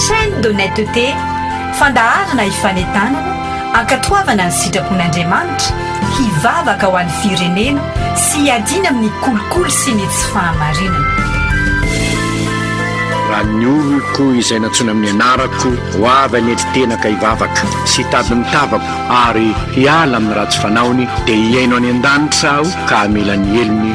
Chaîne d'honnêteté, fandaharana ifanentanana, ankatoavana ny sitrapon'Andriamanitra, hivavaka ho an'ny firenena sy hiadiana amin'ny kolikoly sy ny tsy fahamarinana. Raha ny oloko izay nantsoina amin'ny anarako ho avy any an-tena ka hivavaka sy hitady ny tavako ary hiala amin'ny ratsy fanaony dia hihaino any an-danitra aho ka hamela ny helony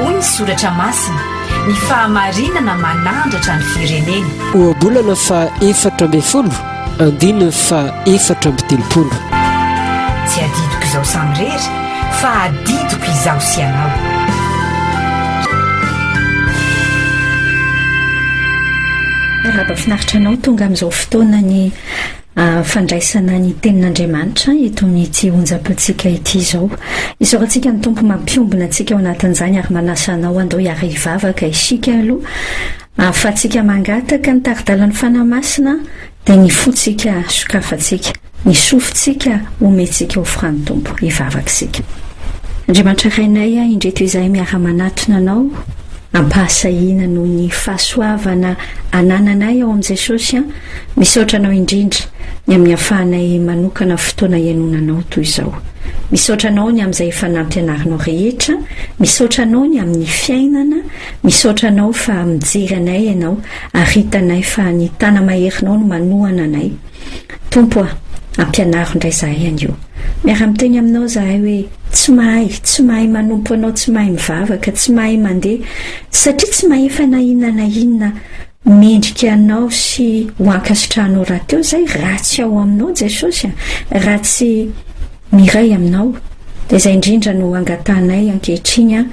Hoy ny soratra masina, Ny fahamarinana manandratra ny firenena. Ohabolana faha efatra ambin'ny folo, andininy faha efatra amby telopolo. Tsy adidiko izao samirery. Fa adidiko izaho sy ianao. Miarahaba finaritra anao tonga amin'izao fotoana ny ah, fandraisana ny tenin'Andriamanitra eto amin'ity onjam-pitsika ity izao. Isaorantsika ny Tompo mampiombona antsika ao anatin'izany ary manasa anao andao hiara hivavaka isika aloha ahafahantsika mangataka ny tari-dalan'ny Fanahy Masina dia ny fontsika sokafantsika. Ny sofintsika omentsika ho fran'ny Tompo, hivavaka isika. Andriamanitra Rainay a, indreto izahay miara-manatona Anao, ampahasahiana noho ny fahasoavana anananay ao amin'i Jesosy a, misaotra Anao indrindra ny amin'ny ahafahanay manokana fotoana hihainoana Anao toy izao. Misaotra Anao ny amin'izay efa nampianarinao rehetra, misaotra Anao ny amin'ny fiainana, misaotra Anao fa mijery anay Ianao ary hitanay fa ny Tana-maherinao no manohana anay, Tompo a, ampianaro indray zahay anio. Miara-miteny aminao zahay hoe tsy mahay, tsy mahay manompo anao, tsy mahay mivavaka, tsy mahay mandeha, satria tsy mahefa na inona na inona mendrika anao sy ho ankasitrahanao rahateo zay raha tsy ao aminao Jesosy a, raha tsy miray aminao. Dia izay indrindra no angatahanay ankehitriny a.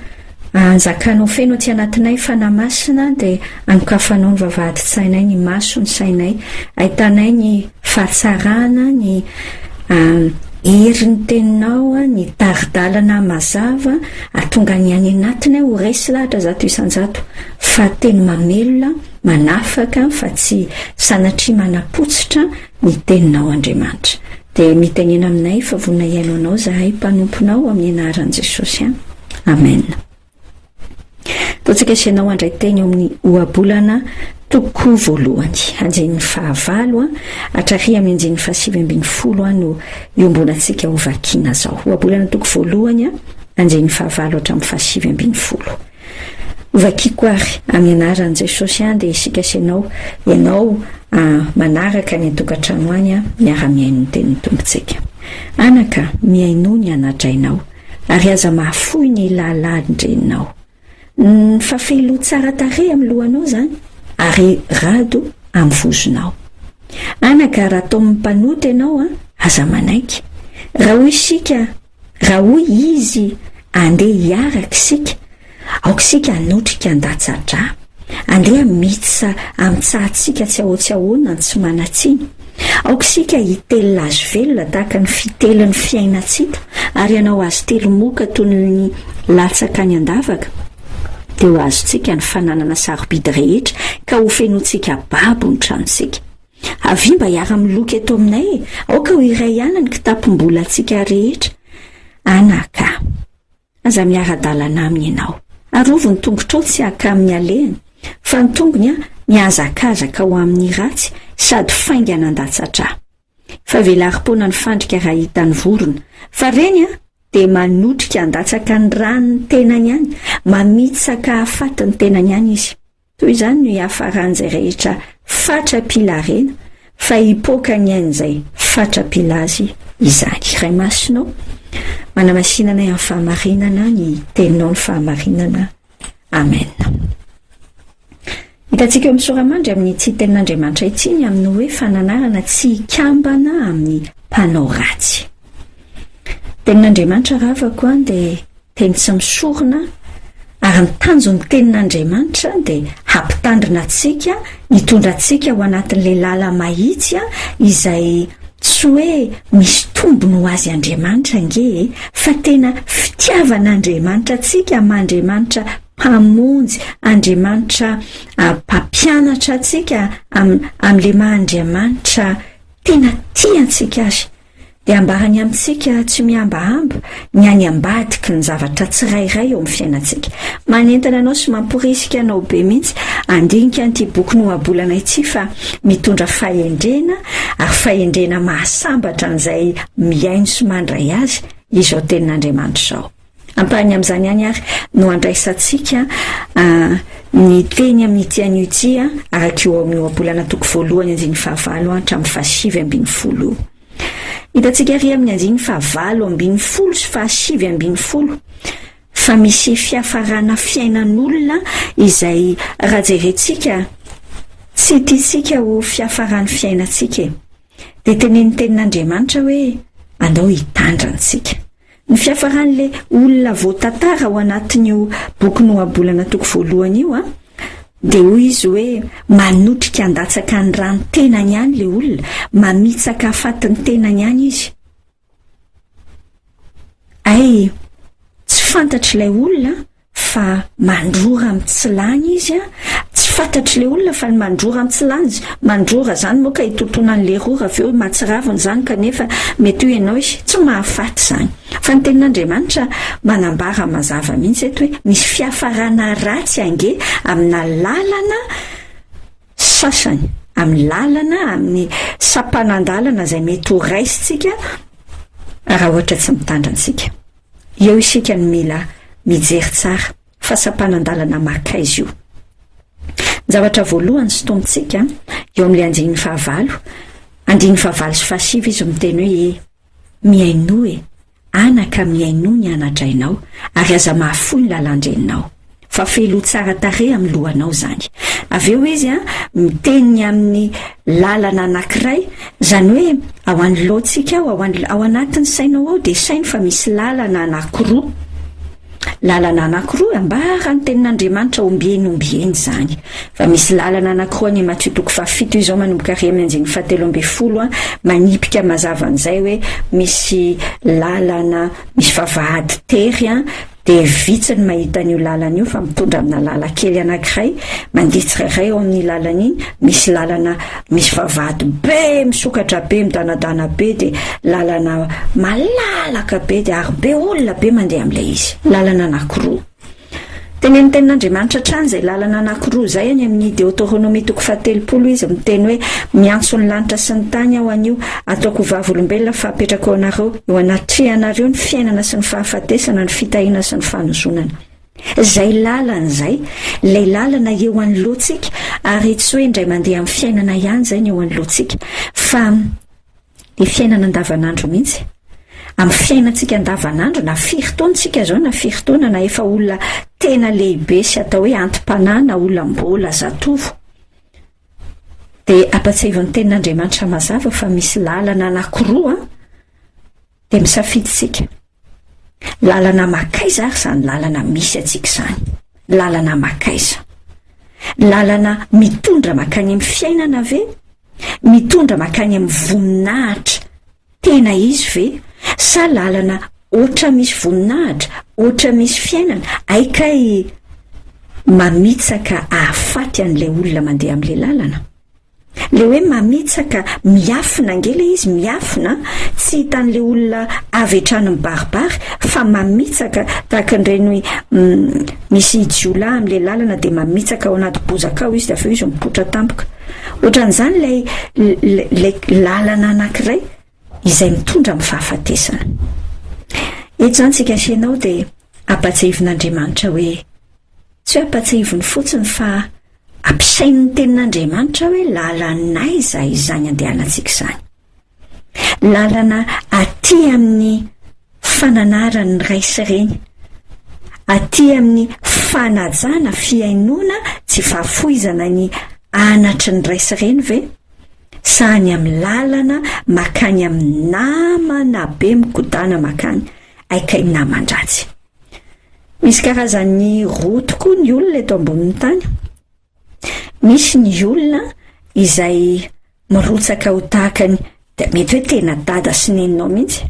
Anjakanao feno aty anatinay Fanahy Masina dia anokafanao ny vavahadin-tsainay ny maso ny sainay ahitanay ny fahatsarana ny herin'ny teninao ny tari-dalana mazava atonga ny any anatinay ho resy lahatra zato isan-jato fa teny mamelona manafaka fa tsy sanatria manapotsitra ny teninao Andriamanitra Dia mitenena aminay fa vonona hihaino anao zahay mpanomponao amin'ny anaran'i Jesosy an! Amen! Totsakaiso ianao handray teny eo amin'ny ohabolana toko voalohany, andinin'ny fahavalo an, hatraria amin'ny andinin'ny fahasivy ambin'ny folo an no iombonantsika ho vakiana zao. Ohabolana toko voalohany an, andinin'ny fahavalo hatramin'ny fahasivy ambin'ny folo. Hovakiako ary amin'ny anaran'i Jesosy an dia isika sy ianao, ianao an manaraka any an-tokantrano any an miara-mihaino ny tenin'ny Tompontsika. Anaka, mihainoa ny ana-drainao ary aza mahafoy ny lahalahn-dreninao. Ny fafelo tsara tarehy amin'ny lohanao izany ary rado amin'ny vozonao. Anaka, raha tomin'ny mpanota ianao an, aza manaiky. Raha hoy isika, Raha hoy Izy, Andeha hiaraka isika, aoka isika hanotrika an-datsa-drà. Andeha miditra amin'ny tsahantsika tsy ahotsiahoana no tsy manan-tsiny. Aoka isika hitelina Azy velona tahaka ny fitelin'ny fiainantsika ary hanao Azy telo moka toy ny latsaka any an-davaka, dia ho azontsika ny fananana sarobidy rehetra ka hofenointsika babo ny tranontsika. Avia mba hiara-miloka eto aminay e! Aoka ho iray ihany ny kitapom-bolantsika rehetra. Anaka, aza miara-dalana aminy ianao. Arovy ny tongotrao tsy haka amin'ny alehany, fa ny tongony mihazakazaka ho amin'ny ratsy sady faingana an-datsatra. Fa velarim-poana ny fandrika raha hitany vorona, fa ireny dia manotrika handatsaka ny ran'ny tenany any, mamitsaka hahafaty ny tenany any izy. Toy izany no hiafaran'izay rehetra fatra-pilaharena, fa hipoaka ny ain'izay fatra-pila azy izany. Ray Masina ô, manamasina anay amin'ny fahamarinana ny Teninao ny fahamarinana. Amen. Hitantsika eo amin'ny sora-mandry amin'ny tsy Tenin'Andriamanitra ity ny amin'ny hoe fananarana tsy hikambana amin'ny mpanao ratsy. Tenin'Andriamanitra ravako an dia Teny tsy misorona, ary ny tanjon'ny Tenin'Andriamanitra dia hampitandrina antsika, hitondra antsika ho anatin'ilay lala mahitsy izay tsy hoe misy tombony ho azy Andriamanitra ange e, fa tena fitiavan'Andriamanitra antsika am'Andriamanitra Mpamonjy, Andriamanitra Mpampianatra antsika am, am'ilay maha Andriamanitra tena tia antsika azy. dia ambarany amintsika tsy mihambahamba ny any ambadiky ny zavatra tsirairay eo amin'ny fiainantsika. Manentana anao sy mamporisika anao be mihitsy handinika an'ity boky nohabolana ity fa mitondra fahendrena ary fahendrena mahasambatra an'izay mihaino sy mandray azy izao tenin'Andriamanitra izao. Ampahany amin'izany ihany àry no andraisantsika ny teny amin'ity anio ity, araka io ao amin'ny Ohabolana toko voalohany andininy fahavalo hatramin'ny fahasivy ambin'ny folo io. Hitantsika àry amin'ny andininy fahavalo ambin'ny folo sy fahasivy ambin'ny folo fa misy fiafarana fiainan'olona izay raha jerentsika tsy tiantsika ho fiafaran'ny fiainantsika e. Dia tenenin'ny Tenin'Andriamanitra hoe andao hitandrina antsika. Ny fiafaran'ilay olona voatantara ao anatin'io boky nohabolana toko voalohany io dia hoy izy hoe manotrika handatsaka ny ran'ny tenany ihany ilay olona, mamitsaka hafaty ny tenany ihany izy. Hay, tsy fantatr'ilay olona fa mandrora am tsy lany izy a tsy fatatry le olona fa ny mandrora am tsy lany mandrora zany moa ka hitontona an'le rora avy eo mahatsiraviny zany kanefa mety hoe ianao izy tsy mahafaty zany fa ny tenin'andriamanitra manambara mazava mihitsy eto hoe misy fiafarana ratsy ange amina lalana sasany amin'ny lalana amin'ny sampanandalana izay mety ho raisintsika raha ohatra tsy mitandra antsika Eo isika no mila mijery tsara fa sampanan-dalana maka aiza io. Ny zavatra voalohany sintomintsika eo amin'ilay andininy fahavalo, andininy fahavalo sy fahasivy izy miteny hoe e, mihainoa e, anaka mihainoa ny ana-drainao ary aza mahafoy ny lalan-dreninao. fa feloa tsara tarehy amin'ny lohanao izany. Avy eo izy a, miteny amin'ny lalana anankiray, izany hoe ao an'ny lohantsika ao, ao, ao anatin'ny sainao ao dia saino fa misy lalana anankiroa. Lalana anankiroa, ambara ny tenin'Andriamanitra ombieny ombieny izany. Fa misy lalana anankiroa any Matio toko fahafito izao manomboka ary amin'ny andininy fahatelo ambin'ny folo a, manipika mazava an'izay hoe misy lalana, misy vavahady tery a, dia vitsy ny mahita an'io lalana io fa mitondra amina lalan-kely anankiray mandeha tsirairay ao amin'iny lalana iny, misy lalana misy vavahady be misokatra be midanadana be dia lalana malalaka be dia ary be olona be mandeha amin'ilay izy, lalana anankiroa. Tenenin'ny Tenin'Andriamanitra hatrany izay lalana anankiroa izay, any amin'ny Deoteronomia toko fahatelopolo izy miteny hoe, Miantso ny lanitra sy ny tany aho anio, Ataoko ho vavolombelona fa apetrako anareo eo anatrehanareo ny fiainana sy ny fahafatesana, ny fitahiana sy ny fanozonana. Izay lalana izay, ilay lalana eo anoloantsika, ary tsy hoe indray mandeha amin'ny fiainana ihany izay ny eo anoloantsika, fa ny fiainana andavanandro mihitsy. Amin'ny fiainantsika andavanandro, na firy taona tsika izao, na firy taona, na efa olona tena lehibe sy atao hoe anti-panahy na olam-bola, zatovo, Dia ampatsiahivo ny tenin'Andriamanitra mazava fa misy lalana anakiroa dia misafidy isika. Lalana makaiza ary izany lalana misy antsika izany. Lalana makaiza. Lalana mitondra makany amin'ny fiainana ve? Mitondra makany amin'ny voninahitra Tena izy ve? Sa lalana ôtra misy voninahitra, ôtra misy fiainana, hay kay mamitsaka ahafaty an'ilay olona mandeha amin'ilay lalana? Ilay hoe mamitsaka, miafina ange ilay izy, miafina tsy hitan'ilay olona avy hatrany mibaribary fa mamitsaka tahaka an'ireny hoe misy jiolahy amin'ilay lalana dia mamitsaka ao anaty bozaka ao izy dia avy eo izy mipoitra tampoka. Ohatran'izany ilay ilay lalana anankiray izay mitondra amin'ny fahafatesana. Eto izany tsika sy ianao dia ampatsiahivin'Andriamanitra hoe tsy hoe ampatsiahiviny fotsiny fa ampisain'ny tenin'Andriamanitra hoe lalan'aiza izany andehanantsika izany. Lalana aty amin'ny fananaran'ny ray sy reny, aty amin'ny fanajana fihainoana tsy fahafoizana ny anatry ny ray sy reny ve? Sa any amin'ny lalana makany amin'ny namana be mikodana makany aika i naman-dratsy? Misy karazany roa tokoa ny olona eto ambonin'ny tany. Misy ny olona izay mirotsaka ho tahaka ny mety hoe tena dada sy neninao mihitsy.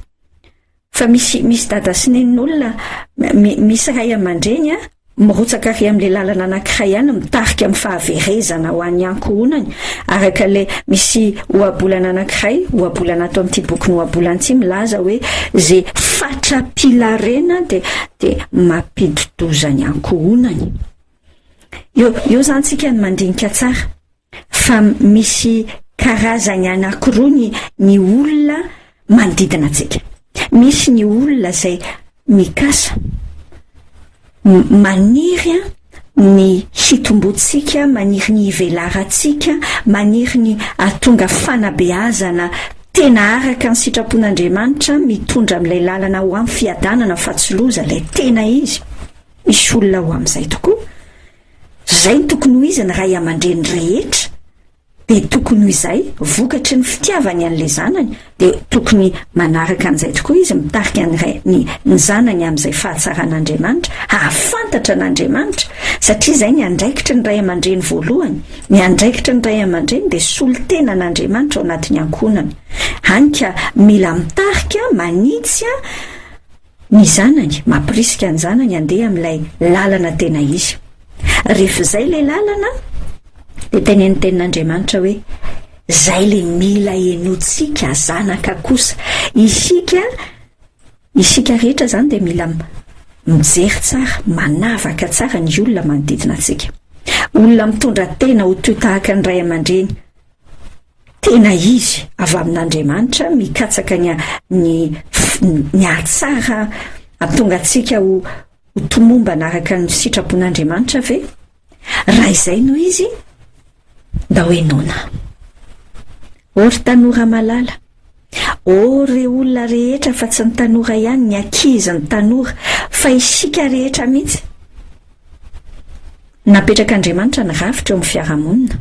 Fa misy misy dada sy nenin'olona, misy ray aman-dreny an, mirotsaka ary amin'ilay lalana anankiray ihany mitarika amin'ny fahaverezana ho an'ny ankohonany, araka ilay misy ohabolana anankiray, ohabolana ato amin'ity bokin'ny ohabolana ity milaza hoe ze fatra-pilarena dia dia mampidi-doza ny ankohonany. Eo eo izany tsika ny mandinika tsara fa misy karazany anankiroa ny, ny olona manodidina antsika. Misy ny olona izay mikasa, maniry an, ny hitomboantsika, maniry ny hivelarantsika, maniry ny hahatonga fanabeazana tena araka ny sitrapon'Andriamanitra, mitondra amin'ilay lalana ho amin'ny fiadanana fa tsy loza, ilay tena izy. Misy olona ho amin'izay tokoa. Izay no tokony ho izy ny ray aman-dreny rehetra, dia tokony ho izay, vokatry ny fitiavany an'ilay zanany, dia tokony manaraka an'izay tokoa izy, mitarika ny ray, ny, ny zanany amin'izay fahatsaran'Andriamanitra, hahafantatra an'Andriamanitra, satria izay ny andraikitry ny ray aman-dreny voalohany. Ny andraikitry ny ray aman-dreny dia solontenan'Andriamanitra ao anatin'ny ankohonany. Hany ka mila mitarika, manitsy, Ny zanany mampirisika ny zanany handeha amin'ilay lalana tena izy. Rehefa izay ilay lalana, dia tenenin'ny Tenin'Andriamanitra hoe, Izay ilay mila henointsika, zanaka kosa. Isika, isika rehetra izany dia mila mijery tsara, manavaka tsara ny olona manodidina antsika. Olona mitondra tena ho toy tahaka ny ray aman-dreny, tena izy avy amin'Andriamanitra mikatsaka ny ny ny ahatsara atonga antsika ho ho tomombana araka ny sitrapon'Andriamanitra ve? Raha izay no izy, da hoe nona. O ry tanora malala, o re olona rehetra fa tsy ny tanora ihany, ny ankizy, ny tanora, fa isika rehetra mihitsy. Napetrak'Andriamanitra ny rafitra eo amin'ny fiarahamonina.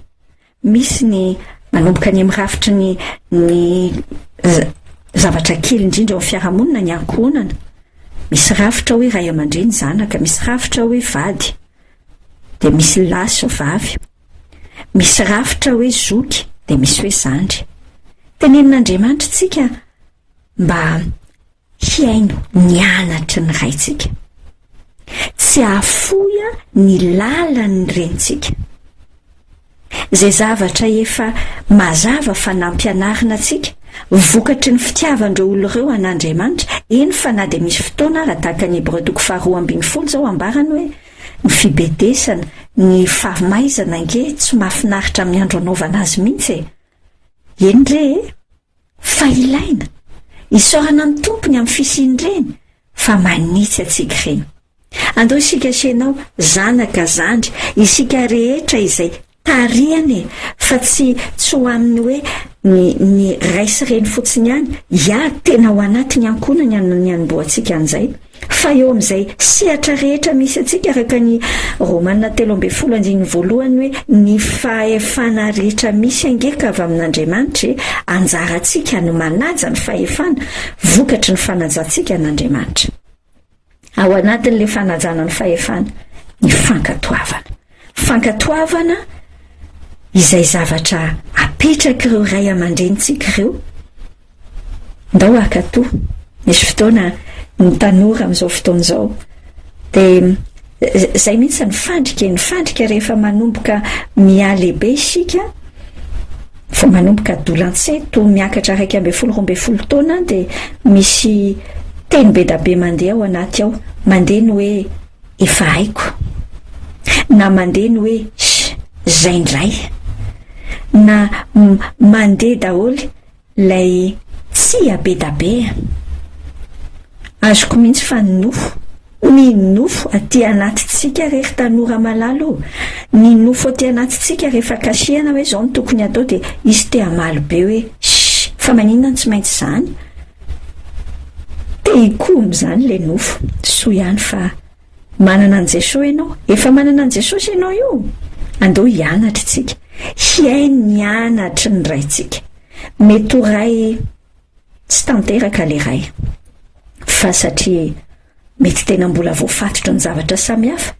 Misy ny manomboka any amin'ny rafitry ny ny zavatra kely indrindra ao amin'ny fiarahamonina ny ankohonana. Misy rafitra hoe ray aman-dreny zanaka, misy rafitra hoe vady, dia misy lahy sy vavy. Misy rafitra hoe zoky, dia misy hoe zandry. Tenenin'Andriamanitra antsika mba Hihaino ny anatry ny raintsika. Tsy hahafoy ny lalan'ny renintsika. Izay zavatra efa mazava fa nampianarina antsika, vokatry ny fitiavan'ireo olona ireo an'Andriamanitra, eny fa na dia misy fotoana ara tahaka ny Hebreo toko faharoa ambin'ny folo izao ambarany hoe, Ny fibedesana, ny fahamaizana ange tsy mahafinaritra amin'ny andro anaovana azy mihitsy e! Eny re e! Fa ilaina, isaorana ny Tompo ny amin'ny fisian'ireny fa manitsy antsika ireny. Andao isika sy ianao, zanaka, zandry, isika rehetra izay tarihana e, fa tsy tsy ho amin'ny hoe ny ny ray sy reny fotsiny ihany, hiady tena ho anatin'ny ankohonany ny hanombohantsika an'izay. Fa eo amin'izay sehatra rehetra misy antsika, araka ny Romana telo ambin'ny folo andininy voalohany, hoe ny fahefana rehetra misy ange ka avy amin'Andriamanitra e, anjarantsika ny manaja ny fahefana vokatry ny fanajantsika an'Andriamanitra. Ao anatin'ilay fanajana ny fahefana, ny fankatoavana. Fankatoavana izay zavatra apetrak'ireo ray aman-drenintsika ireo, Ndao haka toa misy fotoana ny tanora amin'izao fotoana izao dia izay mihitsy ny fandrika e, ny fandrika rehefa manomboka mihalehibe isika, vao manomboka adolantsay toa miakatra iraika ambin'ny folo roa ambin'ny folo taona any dia misy teny bedabe mandeha ao anaty ao, mandeha ny hoe efa haiko na mandeha ny hoe izay indray na mandeha daholo Ilay tsia be da be a! Azoko mihitsy fa ny nofo, ny nofo aty anatintsika re ry tanora malala o! Ny nofo aty anatintsika rehefa kasihana hoe izao no tokony hatao dia hisy te hamaly be hoe shh! Fa maninona no tsy maintsy izany? Te hikomy izany ilay nofo. Soa ihany fa. Manana an'i Jesoa ianao. Efa manana an'i Jesosy ianao io? Andeo hianatra isika. Hihaino ny anatry ny Raintsika. Mety ho Ray tsy tanteraka le Ray. Fa satria mety tena mbola voafatotra ny zavatra samihafa,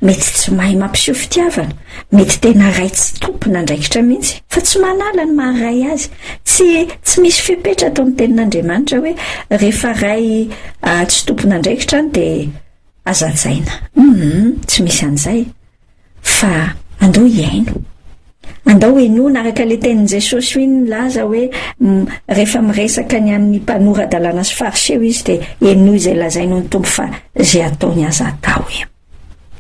mety tsy mahay mampiseho fitiavana, Mety tena ray tsy tompon'andraikitra mihitsy, fa tsy manala ny maha ray azy. Tsy tsy misy fepetra ato amin'ny Tenin'Andriamanitra hoe rehefa ray tsy tompon'andraikitra any dia aza hajaina. Humm, tsy misy an'izay. Fa andao hihaino. Andao henoina araka ilay tenin'i Jesosy hoy ny laza hoe rehefa miresaka ny amin'ny mpanora-dalàna sy Fariseo izy dia henoy izay lazainy hoy ny Tompo fa izay ataony aza atao.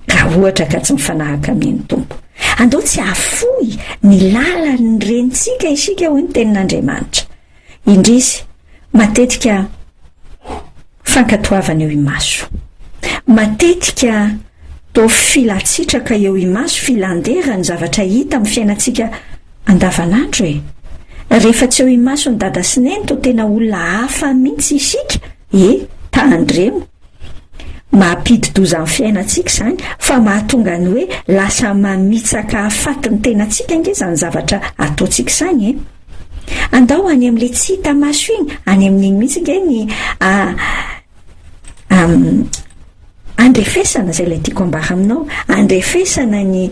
Ka ohatra ka tsy mifanahaka amin'iny Tompo. Andao tsy hahafoy ny lalan'ny renintsika isika hoy ny tenin'Andriamanitra. Indrisy, matetika fankatoavana eo imaso. Matetika to filatsitraka eo imaso filandera ny zavatra hita amin'ny fiainantsika andavanandro e. Rehefa tsy eo imason'i dada sy neny to tena olona hafa mihitsy isika e, tandremo. Mampidi-doza ny fiainantsika izany fa mahatonga ny hoe lasa mamitsaka hahafaty ny tenantsika ange izany zavatra ataontsika izany e! Andao any amin'ilay tsy hita maso iny, any amin'iny mihitsy ange ny andrefesana izay ilay tiako ambara aminao, andrefesana ny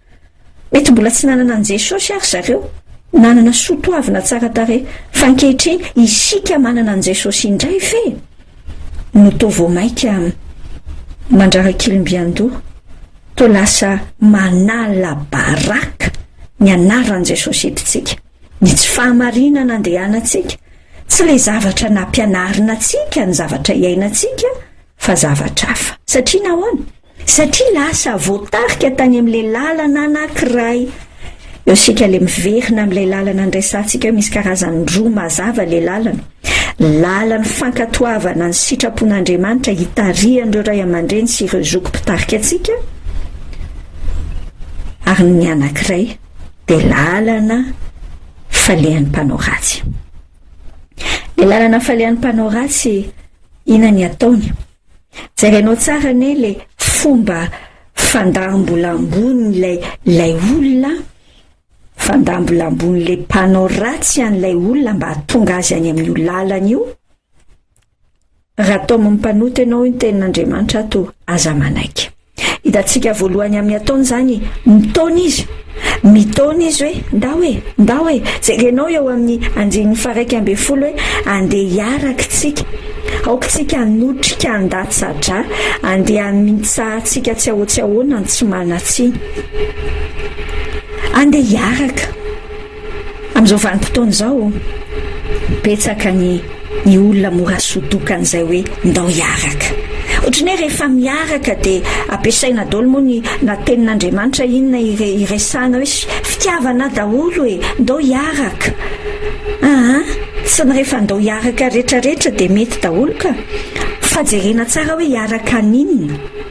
Mety mbola tsy nanana an'i Jesosy àry zareo, nanana soa toavina tsara tarehy, fa ankehitriny isika manana an'i Jesosy indray ve no toa vao mainka mandrarakilim-biandoha, toa lasa manala baraka ny anaran'i Jesosy entintsika? Ny tsy fahamarinana andehanantsika, tsy ilay zavatra nampianarina antsika ny zavatra iainantsika, fa zavatra hafa. Satria nahoana? Satria lasa voatarika tany amin'ilay lalana anankiray. Eo isika ilay miverina amin'ilay lalana niraisantsika eo, misy karazany roa mazava ilay lalana. Lalan'ny fankatoavana ny sitrapon'Andriamanitra hitarihan'ireo ray aman-dreny sy ireo zoky mpitarika antsika, ary ny anankiray dia lalana falehan'ny mpanao ratsy. Ilay lalana falehan'ny mpanao ratsy Ina ny ataony? Jerainao tsara anie le fomba fandambola ambonin'ilay ilay olona an! Fandambola ambonin'le mpanao ratsy an'ilay olona mba hahatonga azy any amin'io lalana io. Raha tao amin'ny mpanota ianao io ny tenin'Andriamanitra ato, aza manaiky. Hitantsika voalohany amin'ny ataony izany, mitaona izy. Mitaona izy hoe, ndao e, ndao e. Jerenao eo amin'ny andininy faharaika ambin'ny folo hoe, andeha hiaraka tsika. Aoka tsika hanotrika an-datsa-drà, andeha hamitsahantsika tsy ahoa-tsy ahoana ny tsy manan-tsiny. Andeha hiaraka. Amin'izao vanim-potoana izao, betsaka ny ny olona mora sodokan'izay hoe ndao hiaraka. Ohatran'ny hoe rehefa miaraka dia ampiasaina daholo moa ny na tenin'Andriamanitra inona ire- iresahana hoe s- fitiavana daholo e, ndao hiaraka. Aa, tsy ny rehefa ndao hiaraka retraretra dia mety daholo ka. Fa jerena tsara hoe hiaraka an'inona.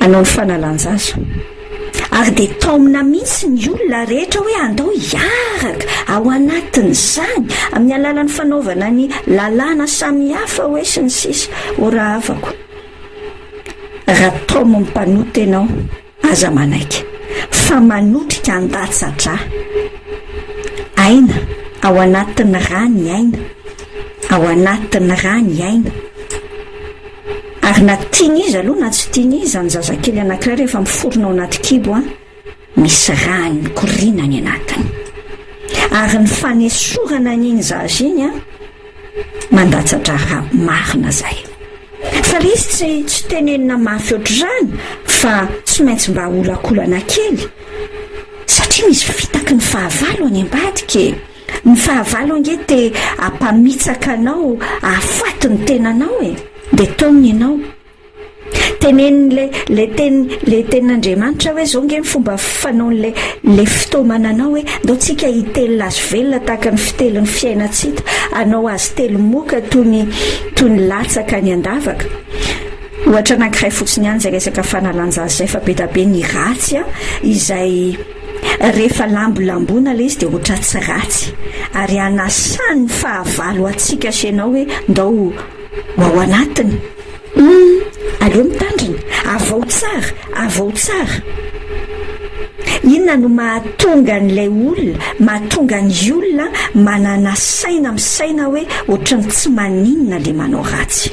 hanao ny fanalan-jaza. Ary dia taomina mihitsy ny olona rehetra hoe andao hiaraka ao anatin'izany amin'ny alalan'ny fanaovana ny lalàna samihafa hoe sy ny sisa. Orahavako. Raha taomin'ny mpanota ianao. Aza manaiky fa manotrika an-datsa-drà. Aina, ao anatin'ny rà ny aina, ao anatin'ny rà ny aina. Ary na tian'iza aloha na tsy tian'iza ny zazakely anankiray rehefa miforona ao anaty kibo an, misy rà mikoriana any anatiny. Ary ny fanesorana an'iny zaza iny an, Mandatsa-draharaha marina zay. Fa lesy tsy tsy tenenina mafy ohatr'izany fa tsy maintsy mba olakolana kely satria misy fitaky ny fahavalo any ambadika e. Ny fahavalo ange te hampamitsaka anao hahafaty ny tenanao e. Dia taomina ianao. Tenenin'ilay ilay teny ilay tenin'Andriamanitra hoe izao nge ny fomba fanaon'ilay ilay fitaomana anao hoe ndao tsika hitelina azy velona tahaka ny fitelin'ny fiainantsika anao azy telo moka toy ny toy ny latsaka ny andavaka ohatra anankiray fotsiny ihany izay resaka fanalanjazy izay fa be da be ny ratsy a izay rehefa lambolambona ilay izy dia ohatra tsy ratsy ary anasan'ny fahavalo antsika sy ianao hoe ndao ho ao anatiny Humm! aleo mitandrina, avao tsara, avao tsara! Inona no mahatonga an'ilay olona, mahatonga ny olona manana saina misaina hoe ohatran'ny tsy maninona le manao ratsy.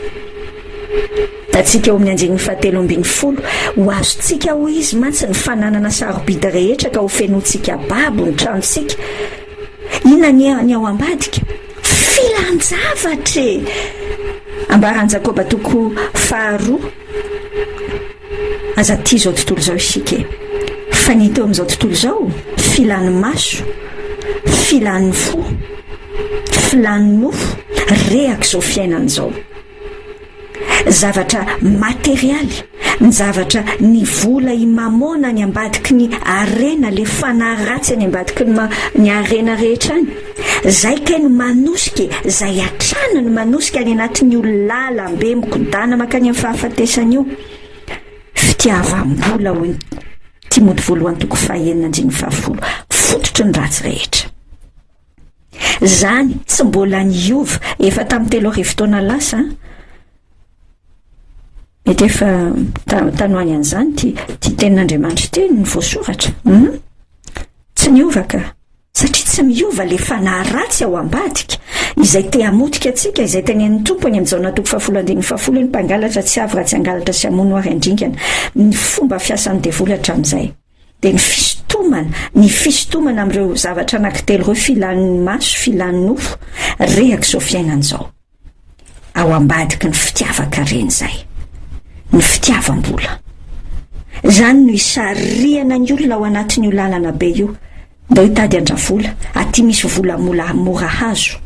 Hitantsika eo amin'ny andininy fahatelo ambin'ny folo, ho azontsika hoy izy mantsy ny fananana sarobidy rehetra ka hofenointsika babo ny tranontsika. Inona anie ny ao ambadika? Filan-javatra e! Ambaran'i Jakoba toko faharoa, Aza tia izao tontolo izao isika e! Fa ny hita eo amin'izao tontolo izao, filan'ny maso, filan'ny fo, filan'ny nofo, rehak'izao fiainana izao. Zavatra materialy, ny zavatra ny vola i mamona any ambadiky ny harena le fanahy ratsy any ambadiky ny ny harena rehetra any. Zay kay no manosika e, zay hatrany no manosika any anatin'ny olalalam-be mikodana makany amin'ny fahafatesana io. Fitiavam-bola hoy Timody voalohany toko fahenina andininy fahafolo, fototry ny ratsy rehetra. Izany tsy mbola niova efa tamin'ny telo arivo taona lasa. Mety efa tanoany an'izany ty ty tenin'Andriamanitra ty ny voasoratra. Hmm? Tsy niova ka. Satria tsy miova le fanahy ratsy ao ambadika, izay te hamotika antsika, izay tenen'ny Tompo any amin'ny Jaona toko fahafolo andininy fahafolo hoe ny mpangalatra tsy avy raha tsy hangalatra sy hamono ary handringana. Ny fomba fiasan'ny devoly hatramin'izay. dia ny fisintomana, ny fisintomana amin'ireo zavatra anankitelo ireo, filan'ny maso, filan'ny nofo, rehaka izao fiainana izao. Ao ambadiky ny fitiavan-karena izay, ny fitiavam-bola. Izany no isarihana ny olona ao anatin'io lalana be io, Ndao hitady andravola, aty misy vola mola mora hazo,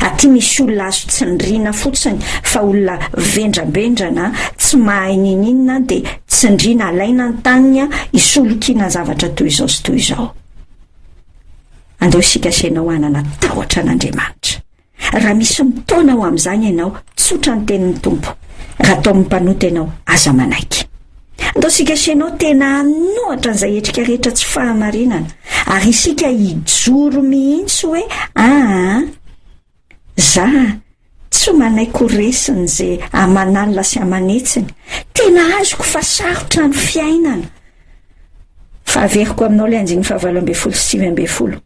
aty misy olona azo tsindriana fotsiny fa olona vendrambendrana tsy mahay ninininona de tsindriana alaina ny taniny hisolokiana zavatra toy izao sy toy izao. Andao isika sy ianao hanana tahotra an'Andriamanitra. Raha misy mitaona ho amin'izany ianao, tsotra ny tenin'ny Tompo. Raha toa mpanota ianao, aza manaiky. Andao isika sy ianao tena hanohatra an'izay hetrika rehetra tsy fahamarinana, ary isika hijoro mihitsy hoe, Aa, za tsy manaiky ho resin'ny ze aman'alina sy aman'hetsiny. Tena azoko fa sarotra ny fiainana. Fa averiko aminao ilay andininy fahavalo ambin'ny folo sy sivy ambin'ny folo.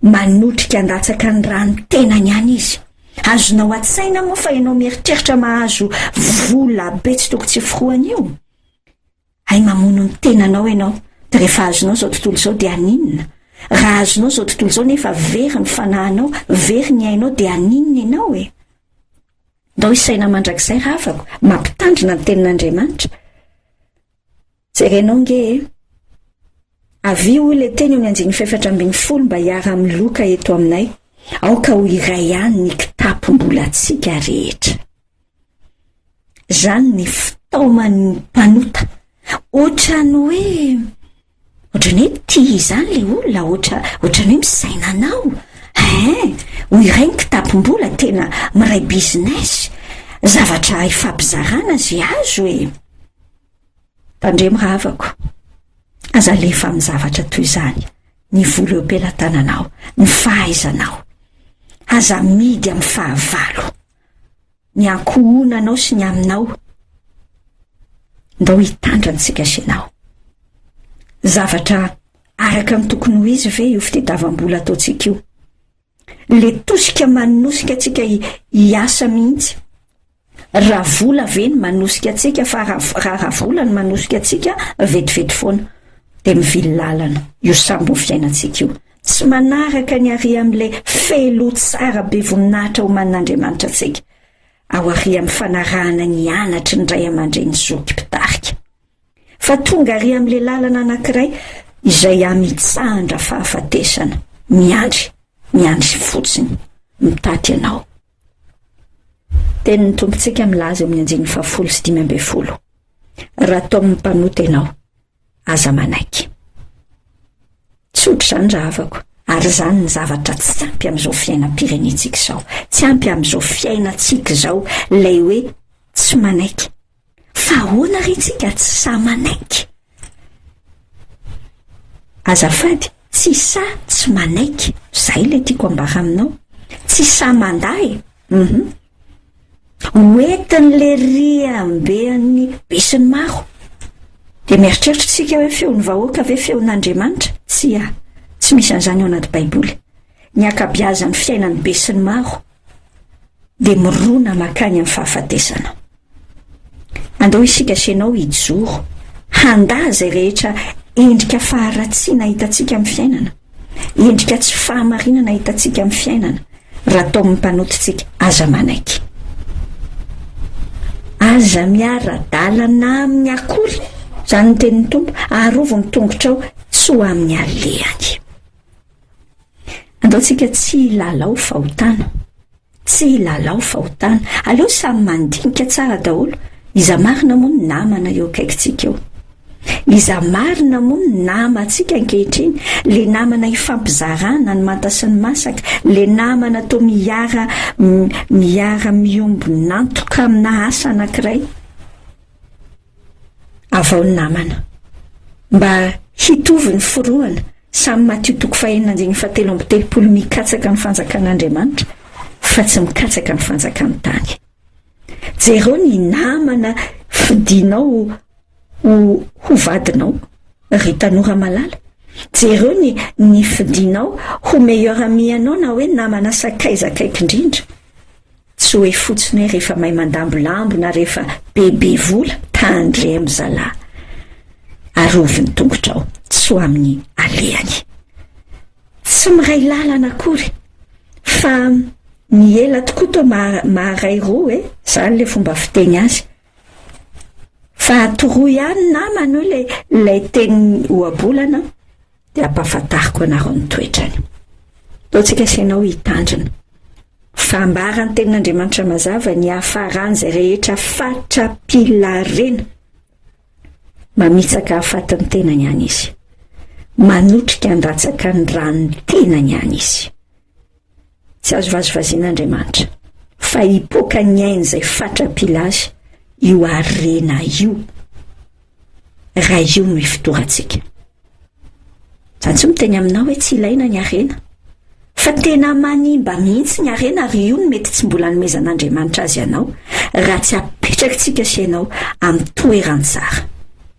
Manotrika handatsaka ny rano tenany any izy. Azonao an-tsaina moa fa ianao mieritreritra mahazo vola be tsy toko tsy forohana io? Hay mamono ny tenanao ianao, dia rehefa azonao izao tontolo izao dia haninona? Raha azonao izao tontolo izao nefa very ny fanahinao, very ny ainao dia haninona ianao e? Ndao hisaina mandrakizay ravako, mampitandrina ny tenin'Andriamanitra. Jerenao nge e! Avia hoy ilay teny eo amin'ny andininy fahefatra ambin'ny folo mba hiara-miloka eto aminay, aoka ho iray ihany ny kitapom-bolantsika rehetra. Izany ny fitaoman'ny mpanota. Ohatran'ny hoe, ohatran'ny hoe tia izany ilay olona, ohatra, ohatran'ny hoe misaina anao. Hein, ho iray ny kitapom-bola, tena miray business, zavatra hifampizarana izay azo e! Tandremo havako, aza alefa amin'ny zavatra toy izany ny vola eo am-pelatananao, ny fahaizanao. Aza amidy amin'ny fahavalo, ny ankohonanao sy ny aminao. Ndao hitandra ny tsikasinao. Zavatra araka ny tokony ho izy ve io fitadiavam-bola ataontsika io? Le tosika manosika antsika hiasa mihitsy. Raha vola ve ny manosika antsika fa raha raha vola ny manosika antsika vetivety foana de mivily lalana io sambo fiainantsika io. Tsy manaraka ny aria amin'ilay feeloha tsara be voninahitra omanin'Andriamanitra antsika ao aria amin'ny fanarahana ny anatry ny ray aman-dreny zoky mpitarika. Fa tonga àry amin'ilay lalana anankiray izay amitsahan-dra fahafatesana. Miandry, miandry fotsiny. Mitaty ianao. Tenin'ny Tompontsika milaza eo amin'ny andininy fahafolo sy dimy ambin'ny folo. Raha toa mpanota ianao, aza manaiky. Tsotra izany raha havako. Ary izany ny zavatra tsy ampy amin'izao fiainam-pirenentsika izao. Tsy ampy amin'izao fiainantsika izao ilay hoe tsy manaiky. Fa ahoana re tsika tsy sahy manaiky? Azafady, tsy sahy tsy manaiky. Zay ilay tiako ambara aminao. Tsy sahy mandà e. Uhum. Hoentin'le riambean'ny besinimaro. Dia mieritreritra isika hoe feon'ny vahoaka ve feon'Andriamanitra? Tsia. Tsy misy an'izany ao anaty Baiboly. Ny ankabiazan'ny fiainan'ny besinimaro dia mirona makany amin'ny fahafatesana. Andao isika sy ianao hijoro, handà izay rehetra endrika faharatsiana hitantsika amin'ny fiainana, endrika tsy fahamarinana hitantsika amin'ny fiainana, raha tao amin'ny mpanotontsika, aza manaiky. Aza miara-dalana amin'ny akory, izany ny tenin'ny Tompo, arovy ny tongotrao tsy ho amin'ny alehany. Andao tsika tsy hilalao fahotana. Tsy hilalao fahotana. Aleo samy mandinika tsara daholo. Iza marina moa ny namana eo akaikintsika eo? Iza marina moa ny namantsika ankehitriny? Le namana ifampizarana ny manta sy ny masaka? Le namana to miara miara miombon'antoka amina asa anankiray? avao ny namana. Mba hitovy ny forohana, samy Matio toko fahenina andininy fahatelo amby telopolo mikatsaka ny fanjakan'Andriamanitra fa tsy mikatsaka ny fanjakan'ny tany. Jereo ny namana fidinao ho ho vadinao, ry tanora malala. Jereo ny ny fidinao ho meilleur ami anao na hoe namana sakaiza akaiky indrindra. Tsy hoe fotsiny hoe rehefa mahay mandambolambo na rehefa bebe vola, tandremo zalah. Arovy ny tongotrao, tsy ho amin'ny alehany. Tsy miray lalana akory, fa ny ela tokoa toa maharay roa e, zany le fomba fiteny azy. Fa toroy ihany namana o le ilay teny ohabolana. dia hampahafantariko anareo ny toetrany. Ataontsika sy ianao hitandrina. Fa ambara ny tenin'Andriamanitra mazava ny hafaran'izay rehetra fatra-pilarena. Mamitsaka hafatin'ny tenany any izy. Manotrika handatsaka ny ran'ny tenany any izy. Tsy azo vazivaziana Andriamanitra, fa hipoaka ny ainy izay fatra-pila azy io harena io, raha io no ifotorantsika. Izany tsy miteny aminao hoe tsy ilaina ny harena, fa tena manimba mihitsy ny harena ary io no mety tsy mbola nomezan'Andriamanitra azy anao, raha tsy apetrakitsika sy ianao amin'ny toeran-tsara.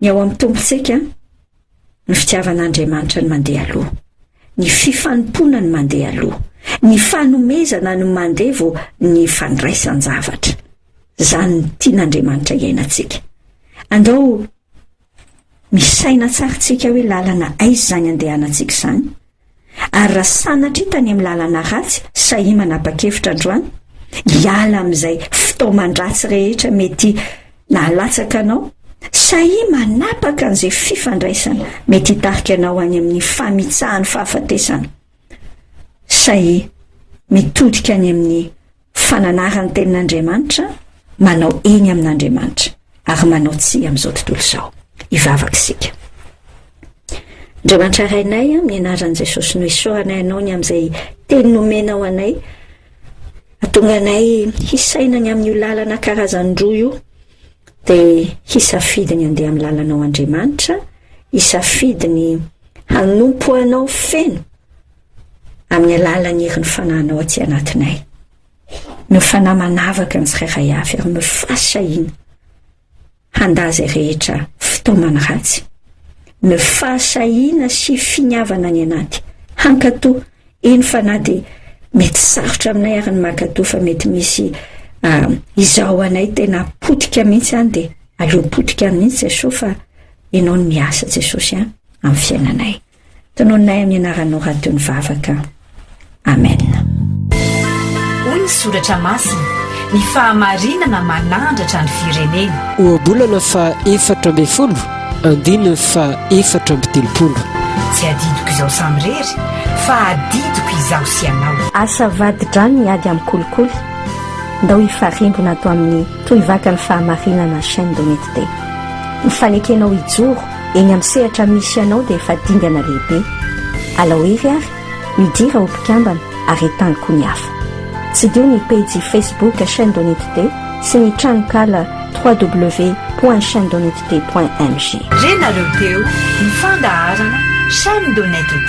Ny ao amin'ny Tompontsika, ny fitiavan'Andriamanitra no mandeha aloha, ny fifanompoana no mandeha aloha, ny fanomezana no mandeha vao ny fandraisan-javatra. Izany no tian'Andriamanitra hiainantsika. Andao misaina tsara isika hoe lalana aiza izany andehanantsika izany. Ary raha sanatria tany amin'ny lalana ratsy sahia manapa-kevitra androany hiala amin'izay fitaoman-dratsy rehetra mety nahalatsaka anao, sahia manapaka an'izay fifandraisana mety hitarika anao any amin'ny famitsahan'ny fahafatesana, sahia mitodika any amin'ny fa nanara ny tenin'Andriamanitra, manao eny amin'Andriamanitra, ary manao tsia amin'izao tontolo izao. Hivavaka isika. Andriamanitra Rainay, amin'ny anaran'i Jesosy no isaoranay anao ny amin'izay teny nomenao anay, atonga anay hisaina ny amin'io lalana karazany roa io, dia hisafidy ny andeha amin'ny lalanao Andriamanitra, hisafidy ny hanompo anao feno, amin'ny alalan'ny herin'ny Fanahinao aty anatinay. Ny Fanahy manavaka ny tsirairay avy ary mifasa iny handà izay rehetra fitaomana ratsy. Ny fahasahiana sy finiavana any anaty hankatò, eny fa na dia mety sarotra aminay ary ny mankatò fa mety misy uh, izaho anay tena potika mihitsy any dia aleo potika mihitsy Jesosy fa ianao no miasa Jesosy an, amin'ny fiainanay. Tonononay amin'ny anaranao raha toy ny vavaka. Amen. Hoy ny soratra masina, ny fahamarinana manandratra ny firenena. Ohabolana fa efatra ambin'ny folo, andininy fa efatra amby telopolo. Tsy adidiko izao samirery, fa adidiko izaho sy ianao. Asa vadi-drano ny ady amin'ny kolikoly, ndao hifarimbona ato amin'ny Tohivakan'ny Fahamarinana Chaîne d'Honnêteté. Ny fanekenao hijoro Eny amin'ny sehatra misy anao dia efa dingana lehibe. Alaohery ary, midira ho mpikambana ary entano koa ny hafa. Tsidiho ny pejy Facebook Chaîne Donitd sy ny tranonkala www.chainedonitd.mg. Renareo teo ny fandaharana Chaîne Donitd.